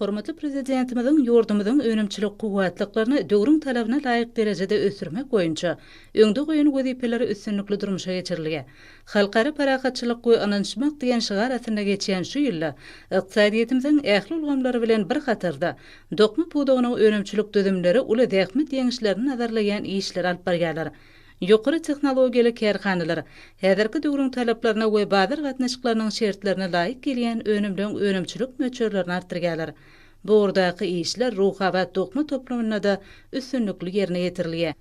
Hormatly Prezidentimiziň ýurdumyzyň önümçilik kuwwatlyklaryny döwrüň talabyna laýyk derejede ösdürmek boýunça öňde goýan wezipeleri üstünlikli durmuşa geçirilýär. Halkara parahatçylyk we ynanyşmak diýen şygar astynda geçýän şu ýylda ykdysadyýetimiziň ähli ulgamlary bilen bir hatarda dokma pudagynyň önümçilik düzümleri uly zähmet ýeňişlerini nazarlaýan işleri alyp barýarlar. Ýokary tehnologiýaly kärhanalar häzirki döwrüň talaplaryna we bazar gatnaşyklarynyň şertlerine laýyk gelýän önümleň önümçilik möçberlerini artdyrýarlar. Bu ugurdaky işler Ruhabat dokma toplumynda-da üstünlikli ýerine ýetirilýär.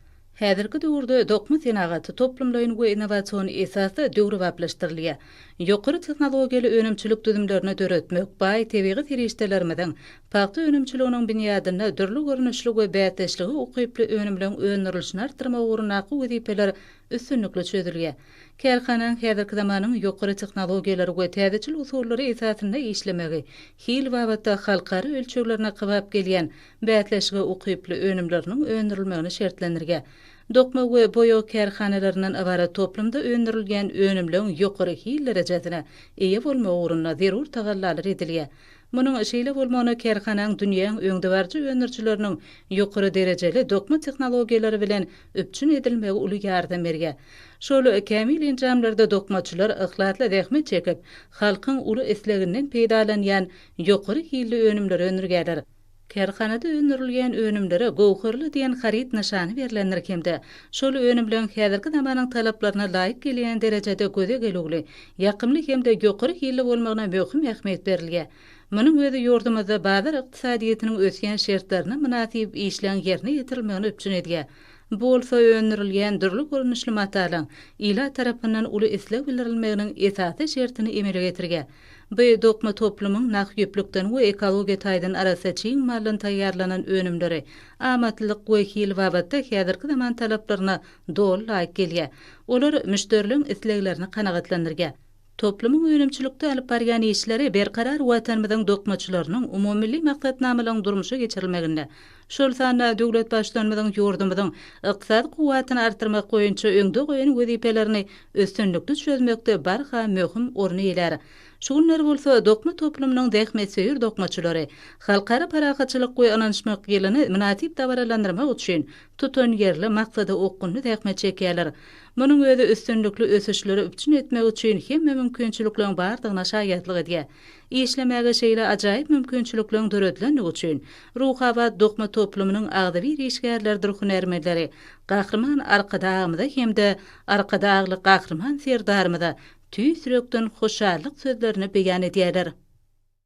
Häzirki döwürde dokma senagaty toplumlaýyn we innowasion esasda döwrebaplaşdyrylýar. ýokary tehnologiýaly önümçilik düzümlerini döretmek, baý tebigy serişdelerimiziň, pagta önümçiliginiň binýadynda dürli görnüşli we bäsdeşlige ukyply önümleň öndürilişini artdyrmak ugrundaky wezipeler üstünlikli çözülýär. Kärhananyň häzirki zamanyň ýokary tehnologiýalary we täzeçil usullary esasynda işlemegi hil babatda halkara ölçeglerine kybap gelýän bäsleşige ukyply önümleriniň öndürilmegini şertlendirýär. Dokma we boýag kärhanalaryndan ybarat toplumda öndürilýän önümleň ýokary hil derejesine eýe bolmagy ugrunda zerur tagallalar edilýär. Munuň şeýle bolmagyna kärhanaň dünýäň öňdebaryjy öndürijileriniň ýokary derejeli dokma tehnologiýalary bilen üpjün edilmegi uly ýardam berýär. Şol kämil enjamlarda dokmaçylar yhlasly zähmet çekip, halkyň uly isleginden peýdalanýan ýokary hilli önümleri öndürýärler. Kärhanada öndürilýän önümlere Göwherli diýen haryt nyşany berlendir hem-de şol önümleň häzirki zamanyň talaplaryna laýyk gelýän derejede göze gelüwli, ýakymly hem-de ýokary hilli bolmagyna möhüm ähmiýet berilýär. Munuň özi ýurdumyzda bazar ykdysadyýetiniň ösýän şertlerine mynasyp işleň ýerine ýetirilmegini üpjün edýär. Bu bolsa öndürilýän dürli görnüşli matalaň ilat tarapyndan uly isleg bildirilmeginiň esasy şertini emele getirýär. Bu dokma toplumyň nah ýüplükden we ekologiýa taýdan arassa çig maldan taýýarlanan önümleri, amatlylyk we hil babatda häzirki zaman talaplaryna doly laýyk gelýär. Olar müşderileriň isleglerini kanagatlandyrýar. Toplumyň önümçilikde alyp barýan işleri berkarar Watanymyzyň dokmaçylarynyň umumymilli maksatnamalaryň durmuşa geçirilmeginde, şol sanda döwlet Baştutanymyzyň ýurdumyzyň ykdysady kuwwatyny artdyrmak boýunça öňde goýan wezipelerini üstünlikli çözmekde barha möhüm orun eýelär. Şu günler bolsa dokma toplumynyň zähmetsöýer dokmaçylary Halkara parahatçylyk we ynanyşmak ýylyny mynasyp dabaralandyrmak üçin tutanýerli, maksada okgunly zähmet çekýärler. Munuň özi üstünlikli ösüşleri üpjün etmek üçin hemme mümkinçilikleriň bardygyna şaýatlyk edýär. Işlemäge şeýle ajaýyp mümkinçilikleriň döredilendigi üçin Ruhabat dokma toplumynyň agzybir işgärleridir hünärmenleri Gahryman Arkadagymyza hem-de Arkadagly Gahryman Serdarymyza tüýs ýürekden hoşallyk sözlerini beýan edýärler.